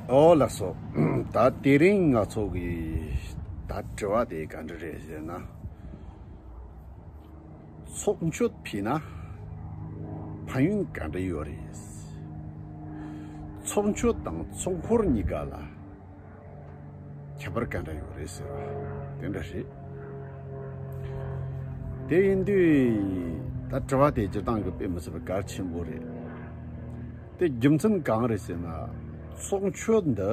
ཨོ་ལགས་སོ། ད་དེ་རིང་ང་ཚོ་གིས་ད་དྲི་བ་དེ་ག་འདྲ་རེད་ཟེར་ན། ཚོགས་མཆོད་ཕུལ་ན་ཕན་ཡོན་ག་འདྲ་ཡོད་རེད། ཚོགས་མཆོད་དང་ཚོགས་འཁོར་གཉིས་ཀ་ལ་ཁྱད་པར་ག་འདྲ་ཡོད་རེད་ཟེར་བ་དེ་འདྲ་རེད། དེ་ཡིན་དུས་ད་དྲི་བ་དེ་སྤྱིར་བཏང་གི་དཔེ་མི་སྲིད་པར་གལ་ཆེན་པོ་རེད། དེ་རྒྱུ་མཚན་གང་རེད་ཟེར་ན་ཚོགས་མཆོད་འདི་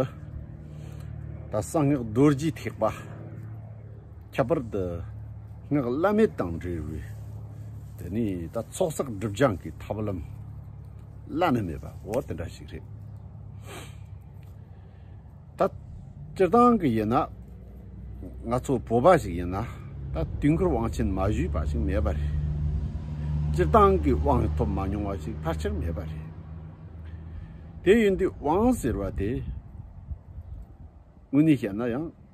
ད་གསང་སྔགས་རྡོ་རྗེའི་ཐེག་པ། ཁྱད་པར་དུ་སྔགས་བླ་མེད་དང་འབྲེལ་བའི་དེ་ནི་ད་ཚོགས་བསགས་སྒྲུབ་སྦྱང་གི་ཐབས་ལམ་བླ་ན་མེད་པའོ་དེ་འདྲ་ཞིག་རེད། ད་སྤྱིར་བཏང་གི་ཡིན་ན་ང་ཚོ་བོད་པ་ཞིག་ཡིན་ན་ད་དུས་འཁོར་དབང་ཆེན་མ་བཞུས་པ་ཞིག་མེད་པ་རེད། སྤྱིར་བཏང་གི་དབང་ཐོབ་མ་མྱོང་བ་ཞིག་ཕལ་ཆེར་མེད་པ་རེད། དེ་ཡིན་དུས་དབང་ཟེར་བ་དེ་དངོས་གནས་བཤད་ན་ཡང།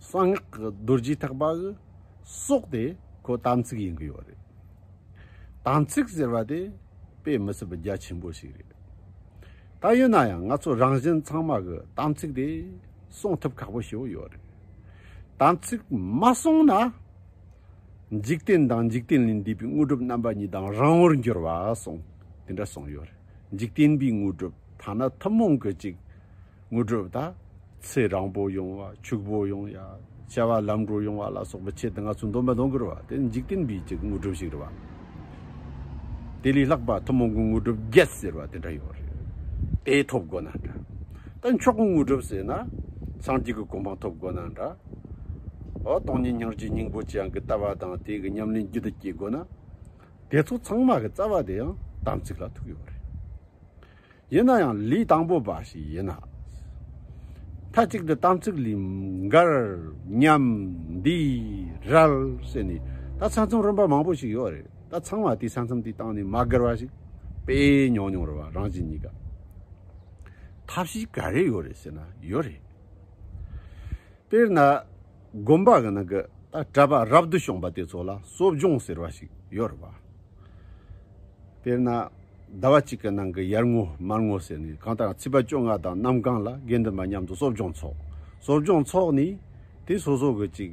གསང་སྔགས་ཀྱི་རྡོ་རྗེ་ཐེག་པ་གི་སྲོག་དེ་ཁོ་དམ་ཚིག་ཡིན་གྱི་ཡོད་རེད། དམ་ཚིག་ཟེར་བ་དེ་དཔེ་མི་སྲིད་པའི་རྒྱ་ཆེན་པོ་ཞིག་རེད། ད་ཡོད་ན་ཡང་ང་ཚོ་རང་བཞིན་ཚང་མ་གི་དམ་ཚིག་དེ་སྲོང་ཐུབ་ཁག་པོ་ཞིག་ཡོད་རེད། དམ་ཚིག་མ་སྲོང་ན། འཇིག་རྟེན་དང་འཇིག་རྟེན་ལས་འདས་པའི་དངོས་གྲུབ་རྣམ་པ་གཉིས་དང་རང་བོར་འགྱུར་བ་སོང་དེ་འདྲ་སོང་ཡོད་རེད་འཇིག་རྟེན་པའི་དངོས་གྲུབ་ཐ་ན་ཐུན་མོང་གི་ཅིག་དངོས་གྲུབ་དང། ཚེ་རང་པོ་ཡོང་བ་ཕྱུག་པོ་ཡོང་ཡ། བྱ་བ་ལམ་འགྲོ་ཡོང་བ་ལ་སོགས་པའི་ཆེད་དུ་ང་ཚོས་འདོམས་པ་དོན་གོ་རུ་བ་དེ་འཇིག་རྟེན་པའི་ཆེད་ཀྱི་དངོས་གྲུབ་ཞིག་རེད་བ། དེ་ལས་ལྷག་པ་ཐུན་མོང་གི་དངོས་གྲུབ་བརྒྱད་ཟེར་བ་དེ་འདྲ་ཡོད་རེད། དེ་ཐོབ་དགོས་ན་འདྲ། ད་མཆོག་གི་དངོས་གྲུབ་ཟེར་ན། སངས་རྒྱས་ཀྱི་གོ་འཕང་ཐོབ་དགོས་ན་འདྲ། ཨོ་སྟོང་ཉིད་སྙིང་རྗེ་སྙིང་པོ་ཅན་གྱི་ལྟ་བ་དང་དེ་གི་ཉམས་ལེན་རྒྱུད་དུ་སྐྱེ་དགོས་ན། དེ་ཚོ་ཚང་མ་གི་རྩ་བ་དེ་ཡང་དམ་ཚིག་ལ་ཐུག་ཡོད་རེད། ཡིན་ན་ཡང་ལུས་དང་པོ་འབའ་ཞིག་ཡིན་ན། མཐའ་གཅིག་ཏུ་དམ་ཚིག་ལུས་མགར། ཉམས། འདི། རལ། ཟེར་ནས་ད་ཚ་མཚམས་རིམ་པ་མང་པོ་ཞིག་ཡོད་རེད་ད་ཚང་མ་དེ་ཚ་མཚམས་དེ་བཏང་ནས་མ་བགར་བ་ཞིག་དཔེ་ཉོག་ཉོག་རེད་བ་རང་བཞིན་གཉིས་ཀ་ཐབས་ཤེས་ག་རེ་ཡོད་རེད་ཟེར་ན་ཡོད་རེད། དཔེར་ན། དགོན་པ་གང་ན་གི་གྲྭ་པ་རབ་ཏུ་བྱུང་པ་དེ་ཚོ་ལ་གསོ་སྦྱོང་ཟེར་བ་ཞིག་ཡོད་རེད་པ། དཔེར་ན། ཟླ་བ་གཅིག་གི་ནང་གི་ཡར་ངོ་མར་ངོ་ཟེར་ནས་གང་ལྟར་ཚིགས་པ་བཅོ་ལྔ་དང་གནམ་གང་ལ་དགེ་འདུན་པ་མཉམ་དུ་གསོ་སྦྱོང་འཚོགས། གསོ་སྦྱོང་འཚོགས་ནས་དེ་སོ་སོ་གི་ཅིག།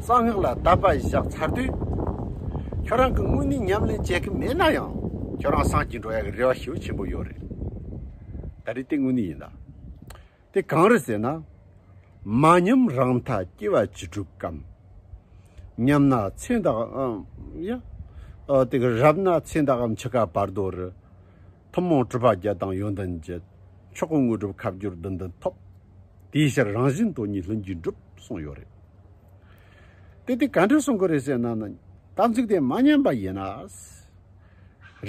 གསང་སྔགས་ལ་དད་པ་བཞག་ཚར་དུས། ཁྱོད་རང་གི་དངོས་གནས་ཉམས་ལེན་བྱེད་མཁན་མེད་ན་ཡང། ཁྱོད་རང་སངས་ཀྱིས་འགྲོ་ཡག་གི་རེ་བ་ཞེ་བོ་ཆེན་པོ་ཡོད་རེད། ད་རེས་དེ་དངོས་གནས་ཡིན་ད། དེ་གང་རེད་ཟེར་ན། མ་ཉམས་རང་མཐའ་སྐྱེ་བ་ཅི་དྲུག་གམ། ཉམས་ན་ཚེ་བདག། ཡ། དེ་ག་རབ་ན་ཚེ་བདག་གམ་འཆི་ཁ་བར་དོ་རུ། ཐུན་མོང་གྲུབ་པ་བརྒྱད་དང་ཡོན་ཏན་བརྒྱད། མཆོག་གི་དངོས་གྲུབ་ཁ་བསྒྱུར་བདུན་ལྡན་ཐོབ། དེའི་ཕྱིར་རང་བཞིན་དོན་གཉིས་ལྷུན་གྱིས་འགྲུབ་གསུངས་ཡོད་རེད། དེ་དེ་ག་འདྲས་གསུང་གི་རེད་ཟེར་ན་ནི། དམ་ཚིག་དེ་མ་ཉམས་པ་ཡིན་ན།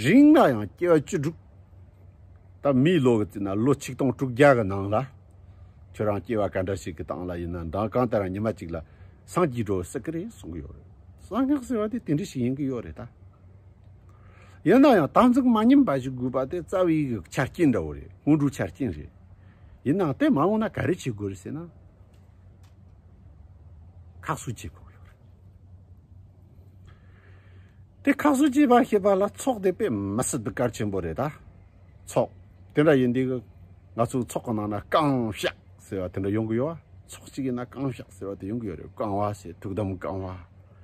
རིང་ལ་ཡང་སྐྱེ་བ་བཅུ་དྲུག། ད་མིའི་ལོ་གི་བརྩིས་ན་ལོ་ཆིག་སྟོང་དྲུག་བརྒྱ་གི་ནང་ལ། ཁྱོད་རང་སྐྱེ་བ་ག་འདྲ་ཞིག་གི་སྟངས་ལ་ཡིན་ན་མདང་གང་དེ་རང་ཉི་མ་གཅིག་ལ་སངས་ཀྱིས་འགྲོ་སྲིད་ཀྱི་རེད་གསུང་གི་ཡོད་རེད། གསང་སྔགས་ཟེར་བ་དེ་དེ་འདྲས་ཞིག་ཡིན་གྱི་ཡོད་རེད་ད། ཡིན་ན་ཡང་དམ་ཚིག་མ་ཉམས་པ་ཞིག་དགོས་པ་དེ་རྩ་བའི་ཡིག་གི་ཆ་རྐྱེན་འདྲ་བོ་རེད་སྔོན་འགྲོའི་ཆ་རྐྱེན་རེད། ཡིན་ནའང་དེ་མ་འོངས་ན་ག་རེ་བྱེད་དགོས་རེད་ཟེར་ན། ཁག་གསོ་བྱེད་དགོས་ཡོད་རེད། དེ་ཁག་གསོ་བྱེད་པ་ཞེས་པ་ལ་ཚོགས་དེ་དཔེ་མི་སྲིད་དུ་གལ་ཆེན་པོ་རེད་ད། ཚོགས་དེ་འདྲ་ཡིན་དུས་ང་ཚོའི་ཚོགས་ཀྱི་ནང་ན་རྐང་བཤགས་ཟེར་བ་དེ་འདྲ་ཡོང་གི་ཡོད། ཚོགས་གཅིག་གི་ནང་རྐང་བཤགས་ཟེར་བ་དེ་ཡོང་གི་ཡོད་རེད་རྐང་བ་ཟེར་དུག་དམ་རྐང་བ།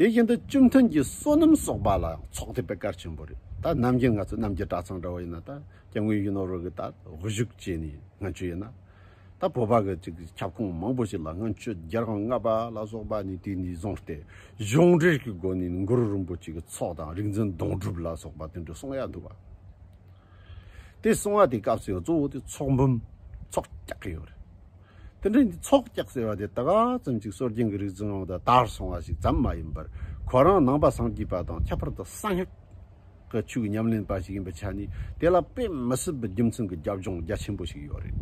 དེ་བཞིན་དུ་བཅུ་མཐུན་གྱི་བསོད་ནམས་གསོག་པ་ལ་ཚོགས་ཐེབས་པའི་གར་ཆེན་པོ་རེད་ད་རྣམ་རྒྱལ་ང་ཚོ་རྣམ་རྒྱལ་གྲྭ་ཚང་འདྲ་བོ་ཡིན་ན་ད་སྐྱབས་མགོན་གཞོན་ནུ་རོལ་གི་ད་བཞུགས་བྱས་ནས་ང་ཚོ་ཡིན་ན་ད་བོད་པ་གི་ཅིག་ཁྱབ་ཁོངས་མང་པོ་ཞིག་ལ་ང་ཚོས་རྒྱལ་ཁང་ལྔ་པ་ལ་སོགས་པ་ནས་དུས་འདི་བཟུང་སྟེ་གཞུང་འབྲེལ་གྱི་སྒོ་ནས་ནི་མགོ་རུ་རིན་པོ་ཆེ་གི་ཚོགས་དང་རིག་འཛིན་དོང་སྒྲུབ་ལ་སོགས་པ་དེ་འདྲ་གསུང་ཡ་འདུག་བ། དེ་སོང་བ་དེ་སྐབས་སུ་ཡང་གཙོ་བོ་དེ་ཚོགས་འབུམ། ཚོགས་རྒྱག་ཡོད་རེད། དེ་འདྲའི་འདི་ཚོགས་རྒྱག་ཟེར་བ་དེ་ད་ག་ཙམ་ཅིག་སྲོལ་རྒྱུན་གྱི་རིག་འཛིན་ནང་དུ་དར་སོང་བ་ཞིག་ཙམ་མ་ཡིན་པར་ཁོ་རང་ནང་པ་སངས་རྒྱས་པ་དང་ཁྱད་པར་དུ་གསང་སྔགས་ཀྱི་ཆོས་ཉམས་ལེན་པ་ཞིག་ཡིན་པའི་ཆ་ནས་དེ་ལ་དཔེ་མི་སྲིད་པའི་རྒྱུ་མཚན་གྱི་རྒྱབ་ལྗོངས་རྒྱ་ཆེན་པོ་ཞིག་ཡོད་རེད།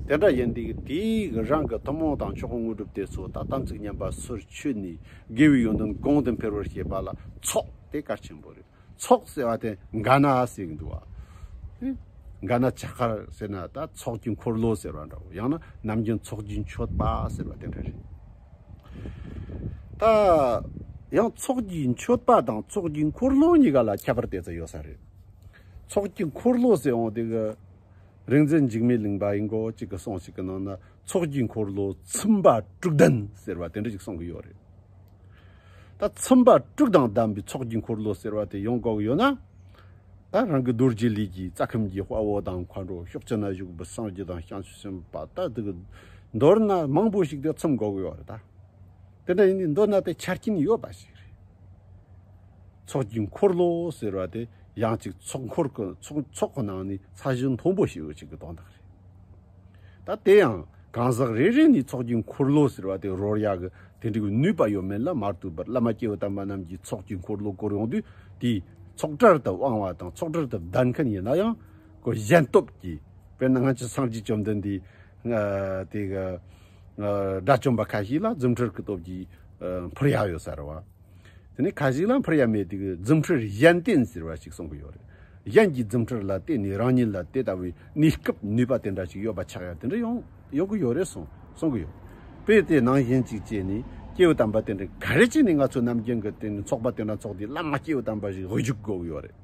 དེ་འདྲ་ཡིན་དུས་དེའི་རང་གི་ཐུན་མོང་དང་མཆོག་དངོས་གྲུབ་དེ་ཚོ་ད་དམ་ཚིག་ཉམས་པ་སོར་ཆུད་ནས་དགེ་བའི་ཡོན་ཏན་གོང་དུ་འཕེལ་བར་བྱེད་པ་ལ་ཚོགས་དེ་གལ་ཆེན་པོ་རེད། ཚོགས་ཟེར་བ་དེ་འགའ་ན་ཟེར་གྱི་འདུག་བ། འགའ་ན་བྱ་དཀར་ཟེར་ན་ད་ཚོགས་ཀྱི་འཁོར་ལོ་ཟེར་བ་འདྲ་བོ་ཡང་ན་ནམ་རྒྱུན་ཚོགས་ཀྱི་མཆོད་པ་ཟེར་བ་དེ་འདྲ་རེད། ད་ཡང་ཚོགས་ཀྱི་མཆོད་པ་དང་ཚོགས་ཀྱི་འཁོར་ལོ་གཉིས་ཀ་ལ་ཁྱད་པར་དེ་ཙམ་ཡོད་ས་རེད། ཚོགས་ཀྱི་འཁོར་ལོ་ཟེར་འོང་དེ་གི་རིག་འཛིན་འཇིགས་མེད་གླིང་པ་ཡིན་སྐོར་གཅིག་གི་གསུང་ཞིག་གི་ནང་ན་ཚོགས་ཀྱི་འཁོར་ལོ་ཚིམ་པ་དྲུག་ལྡན་ཟེར་བ་དེ་འདྲ་ཞིག་གསུང་གི་ཡོད་རེད། ད་ཚོམ་བག་དཀྲུགས་དང་བསྡམས་པའི་ཚོགས་ཀྱི་འཁོར་ལོ་ཟེར་བ་དེ་ཡོང་གོག་ཡོད་ན། ད་རང་གི་རྡོ་རྗེ་ལས་ཀྱི་རྩ་ཁམས་ཀྱི་དཔའ་བོ་དང་མཁའ་འགྲོ་ཤོག་ཅེ་ན་བཞུགས་པའི་སངས་རྒྱས་དང་བྱང་ཆུབ་སེམས་དཔའ་ལྟ་བུ་དེ་མདོར་ན་མང་པོ་ཞིག་དེ་ཚོམ་གོག་ཡོད་རེད་ད། དེ་འདྲ་ཡིན་དུས་མདོར་ན་དེ་ཆ་རྐྱེན་ཡོད་པ་ཞིག་རེད། ཚོགས་ཀྱི་འཁོར་ལོ་ཟེར་བ་དེ་ཡང་ཅིག་ཚོགས་འཁོར་ཚོགས་ཁོ་ན་ནི་ས་གཞི་མཐོན་པོ་ཞིག་ཡོད་ཅིག་གི་དོན་དང། ད་དེ་ཡང་གང་ཟག་རེ་རེ་ནི་ཚོགས་ཀྱི་འཁོར་ལོ་ཟེར་བ་དེ་རོར་ཡག་གི་དེ་འགྲིག་པའི་ནུས་པ་ཡོད་མེད་ལ་མ་ལྟོས་པར་བླ་མ་སྐྱེ་བོ་དམ་པ་རྣམས་ཀྱིས་ཚོགས་ཀྱི་འཁོར་ལོ་བསྐོར་ཡོང་དུས་དེ་ཚོགས་གྲལ་དུ་དབང་བ་དང་ཚོགས་གྲལ་དུ་བདར་མཁན་ཡིན་ན་ཡང་གོ་གཞན་སྟོབས་ཀྱིས་དཔེར་ན་སྔ་ཕྱི་སངས་རྒྱས་བཅོམ་ལྡན་འདས་དེ་དགྲ་བཅོམ་པ་ཁ་ཤས་ལ་རྫུ་འཕྲུལ་གྱི་སྟོབས་ཀྱིས་འཕུར་ཡག་ཡོད་ཟེར་བ། དེ་ནས་ཁ་ཞིག་ལ་འཕུར་ཡ་མེད་དུས་རྫུ་འཕྲུལ་གཞན་བརྟེན་ཟེར་བ་ཞིག་གསུངས་གི་ཡོད་རེད། གཞན་གྱི་རྫུ་འཕྲུལ་ལ་བརྟེན་ནས་རང་ཉིད་ལ་དེ་ལྟ་བུའི་གནས་སྐབས་ནུས་པ་དེ་འདྲ་ཞིག་ཡོད་པ་ཆགས་ཡ་དེ་འདྲ་ཡོང་ཡོང་གི་ཡོད་རེད་གསུངས་གསུངས་གི་ཡོད། དཔེ་དེ་ནང་བཞིན་ཅིག་བྱས་ནས་སྐྱེས་བུ་དམ་པ་དེ་འདྲ་ག་རེ་བྱས་ནས་ང་ཚོ་ནམ་རྒྱུན་གྱི་བརྟེན་ནས་ཚོགས་པ་དེ་འདྲ་འཚོགས་དུས་བླ་མ་སྐྱེས་བུ་དམ་པ་ཞིག་འོས་ཞུགས་དགོས་གི་ཡོད་རེད།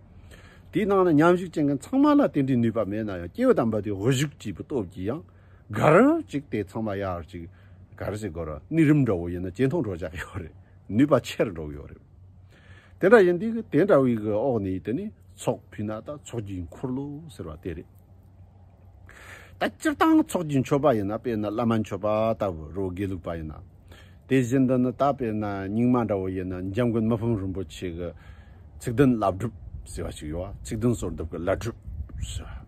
དེའི་ནང་ན་མཉམ་ཞུགས་བྱེད་མཁན་ཚང་མ་ལ་དེ་འདྲའི་ནུས་པ་མེད་ན་ཡང་སྐྱེས་བུ་དམ་པ་དེ་འོས་ཞུགས་བྱས་པའི་སྟོབས་ཀྱིས་ཡང། གར་ཅིག་དེ་ཚང་མ་ཡར་ཅིག་གར་ཅིག་གོ་རང་ནི་རིམ་འདྲ་བོ་ཡིན་ན་ཇེ་མཐོང་འགྲོ་བཅག་ཡོད་རེད་ནུས་པ་ཆེར་འགྲོ་གི་ཡོད་རེད། དེ་འདྲ་ཡིན་དུས་དེ་འདྲ་བའི་གི་འོག་ནས་དེ་ནི་ཚོགས་ཕུད་ན་ད་ཚོགས་ཀྱི་འཁོར་ལོ་ཟེར་བ་དེ་རེད། ད་སྤྱིར་བཏང་ཚོགས་ཀྱི་མཆོད་པ་ཡིན་ན་དཔེར་ན་བླ་མ་མཆོད་པ་ལྟ་བུ་རོ་དགེ་ལུགས་པ་ཡིན་ན། དེ་བཞིན་དུ་ནི་ད་དཔེར་ན་རྙིང་མ་འདྲ་བོ་ཡིན་ན་འཇམ་མགོན་མི་ཕམ་རིན་པོ་ཆེ་གི་ཚིག་དོན་བླ་བསྒྲུབ་ཟེར་བ་ཞིག་ཡོད་བ་ཚིག་དོན་སོར་བསྡུབ་གི་བླ་བསྒྲུབ་ཟེར་བ།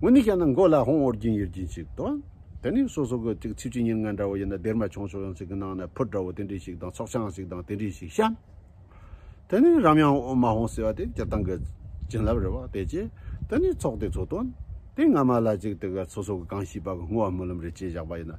ངོ་ནི་ཤ་ན་མགོ་ལ་ཧོང་ཨོར་རྒྱུན་ཡོད་རྒྱུན་ཞིག་དང། དེ་ནི་སོ་སོ་གི་ཚིག་ཆུ་ཉིན་ལྔ་འདྲ་བོ་ཡིན་ན་སྡེར་མ་ཆུང་ཆུང་ཡང་ཚིག་གི་ནང་ན་ཕུར་འདྲ་བོ་དེ་འདྲི་ཞིག་དང་ཚོགས་ཆང་ཞིག་དང་དེ་འདྲི་ཞིག་བཤམ། དེ་ནི་རམ་ཡང་ཨོ་མ་ཧོང་ཟེར་བ་དེ་སྤྱིར་བཏང་གི་བྱིན་རླབས་རེད་བ་དེ་རྗེས་དེ་ནི་ཚོགས་དེ་ཚོ་དོན་དེ་སྔ་མ་ལ་ཅིག་དེ་ག་སོ་སོ་གི་གང་ཤེས་པ་གི་སྔོ་བ་སྨོན་ལམ་རེ་བཅས་བཞག་པ་ཡིན་ན།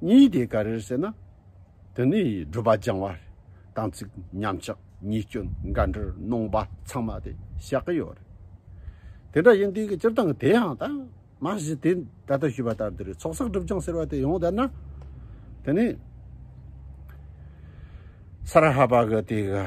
གཉིས་དེ་ག་རེར་ཟེར་ན། དེ་ནི་སྒྲུབ་པ་སྦྱང་བ་དང་ཚིག་ཉམས་ཆག་གཉིས་སྐྱོན་འགའ་འདྲར་སྣང་བ་ཚང་མ་དེ་བཞག་གི་ཡོད་རེད། དེ་འདྲ་ཡིན་དུས་ཀྱི་སྤྱིར་བཏང་དེ་ཡང་ད་མ་གཞི་དེ་ད་ལྟ་ཞུས་པ་ལྟར་འདིར་ཚོགས་བསགས་སྒྲུབ་སྦྱང་ཟེར་བ་དེ་ཡོང་བསྡད་ན། དེ་ནི་སྭཱ་ར་ཧ་པ་གི་དེ་ག།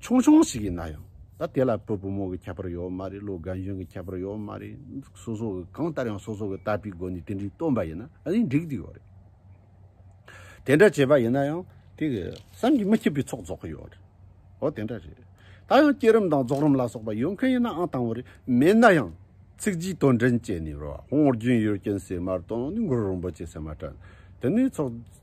ཆུང་ཆུང་ཞིག་ཡིན་ན་ཡང་ད་དེ་ལ་བུ་བུ་མོ་གི་ཁྱད་པར་ཡོད་མ་རེད་ལོ་རྒན་གཞོན་གྱི་ཁྱད་པར་ཡོད་མ་རེད་སོ་སོ་གི་གང་ལྟར་ཡང་སོ་སོ་གི་ལྟ་བའི་སྒོ་ནས་དེ་འདྲའི་སྟོན་པ་ཡིན་ན་ནི་འགྲིག་འདུག་ཡོད་རེད། དེ་འདྲ་བྱས་པ་ཡིན་ན་ཡང་དེ་གི་བསམ་གྱིས་མི་ཁྱབ་པའི་ཚོགས་རྫོགས་ཀྱི་ཡོད་རེད། འོ་དེ་འདྲ་རེད། ད་ཡང་བསྐྱེད་རིམ་དང་རྫོགས་རིམ་ལ་སོགས་པ་ཡོད་མཁན་ཡིན་ནའང་དང་བོ་རེད་མེད་ན་ཡང་ཚིག་བརྗིད་དོན་དྲན་བཅས་ནས་རོ་ཧོང་རྒྱུན་ཡོད་རྐྱེན་སེ་མར་དང་ནི་མགུར་རིན་པོ་ཆེ་སེ་མར་དྲན་དེ་ནི་ཚོགས།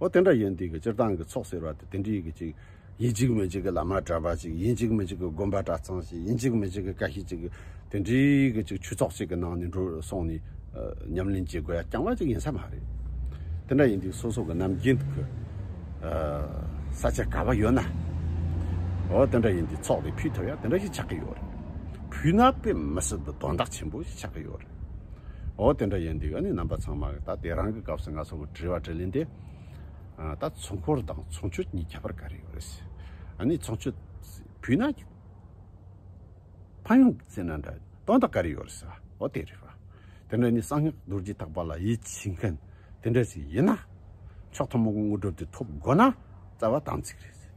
འོ་དེ་འདྲ་ཡིན་དུས་ཀྱི་སྤྱིར་བཏང་གི་ཚོགས་ཟེར་བ་དེ་དེ་འདྲའི་གི་ཅིག་ཡིན་གཅིག་མིན་གཅིག་གི་བླ་མ་གྲྭ་པ་ཅིག་ཡིན་གཅིག་མིན་གཅིག་གི་དགོན་པ་གྲྭ་ཚང་ཞིག་ཡིན་གཅིག་མིན་གཅིག་གི་བཀའ་ཤིས་ཅིག་དེ་འདྲའི་གི་ཅིག་ཆོས་ཚོགས་གཅིག་གི་ནང་ནས་འགྲོ་སོང་ནས་ཉམས་ལེན་བྱེད་དགོས་ཡ་རྐྱང་པ་ཅིག་ཡིན་ས་མ་རེད། དེ་འདྲ་ཡིན་དུས་སོ་སོ་གི་ནམ་རྒྱུན་གི་ས་ཆ་ག་བ་ཡོད་ན་འོ་དེ་འདྲ་ཡིན་དུས་ཚོགས་དེ་ཕུད་ཐུབ་ཡ་དེ་འདྲ་ཞིག་ཆགས་ཀྱི་ཡོད་རེད། ཕུད་ན་དཔེ་མི་སྲིད་དུ་དོན་དག་ཆེན་པོ་ཞིག་ཆགས་ཀྱི་ཡོད་རེད། ཨོ་དེ་འདྲ་ཡིན་འདུག་ཨ་ནི་རྣམ་པ་ཚང་མ་ད་དེ་རང་གི་སྐབས་སུ་ང་ཚོ་གི་དྲི་བ་དྲིས་ལན་དེ། ད་ཚོང་འཁོར་དང་ཚོང་ཆོས་གཉིས་ཁྱད་པར་ག་རེ་ཡོད་རེད་ཟེར། ཨ་ནི་ཚོང་ཆོས་བུས་ན་གྱི། ཕ་ཡུང་གི་ཚེ་ན་འདྲ་སྟོང་དང་ག་རེ་ཡོད་རེད་ཟེར། ཨོ་དེ་རེད་བ། དེ་འདྲ་ནི་གསང་སྔགས་རྡོ་རྗེ་དག་པ་ལ་ཡིད་ཆེས་མཁན་དེ་འདྲ་ཞིག་ཡིན་ན། མཆོག་ཐུན་མོང་གི་དངོས་གྲུབ་དེ་ཐོབ་དགོས་ན་རྩ་བ་དམ་ཚིག་རེད་ཟེར།